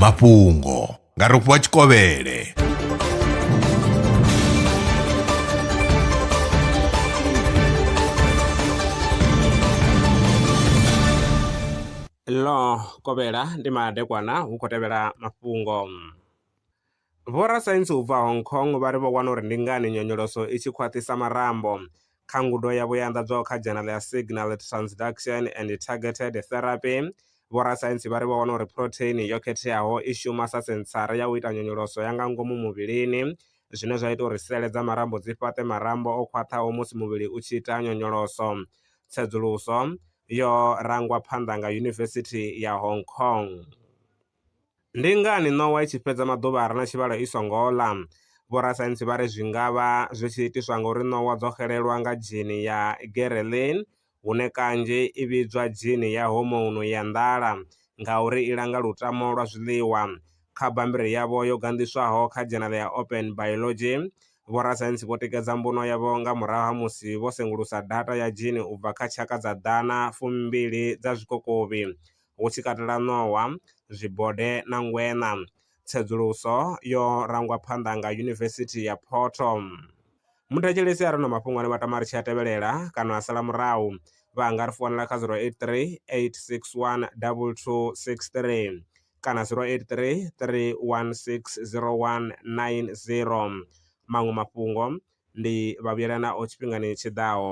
mafhungo nga rofhiwa tshikovhele ḽo kovhela ndi madekwana hu khou tevhela mafhungo Vhorasaintsi u bva Hong Kong vha ri vho wana uri ndi ngani nyonyoloso i tshi khwaṱhisa marambo. Kha ngudo yavho yo anḓadzwaho kha dzhenala ya Signal Transduction and Targeted Therapy, vhorasaintsi vha ri vho wana uri phurotheini yo khetheaho i shuma sa sentsara ya u ita nyonyoloso ya nga ngomu muvhilini, zwine zwa ita uri sele dza marambo dzi fhaṱe marambo o khwaṱhaho musi muvhili u tshi ita nyonyoloso. Tsedzuluso yo rangwa phanḓa nga Yunivesithi ya Hong Kong. Ndi ngani ṋowa i tshi fhedza maḓuvha a re na tshivhalo i songo ḽa? Vhorasaintsi vha ri zwi nga vha zwi tshi itiswa ngauri ṋowa dzo xelelwa nga dzhini ya ghrelin, hune kanzhi i vhidzwa dzhini ya hormone ya nḓala, ngauri i langa lutamo lwa zwiḽiwa. Kha bammbiri yavho yo ganḓiswaho kha dzhenala ya Open Biology, vhorasaintsi vho tikedza mbuno yavho nga murahu ha musi vho sengulusa data ya dzhini u bva kha tshaka dza ḓana fumbili dza zwikokovhi. hu tshi katela ṋowa, zwibode na ngweṋa. Tsedzuluso yo rangwa phanḓa nga Yunivesithi ya Photo. Muthetshelesi a re na mafhungo ane vha tama ri tshi a tevhelela kana a sala murahu, vha nga ri founela kha 083 861 2263 kana 083 3160190. Maṅwe mafhungo ndi Vhavhuyelanaho tshifhingani tshi ḓaho.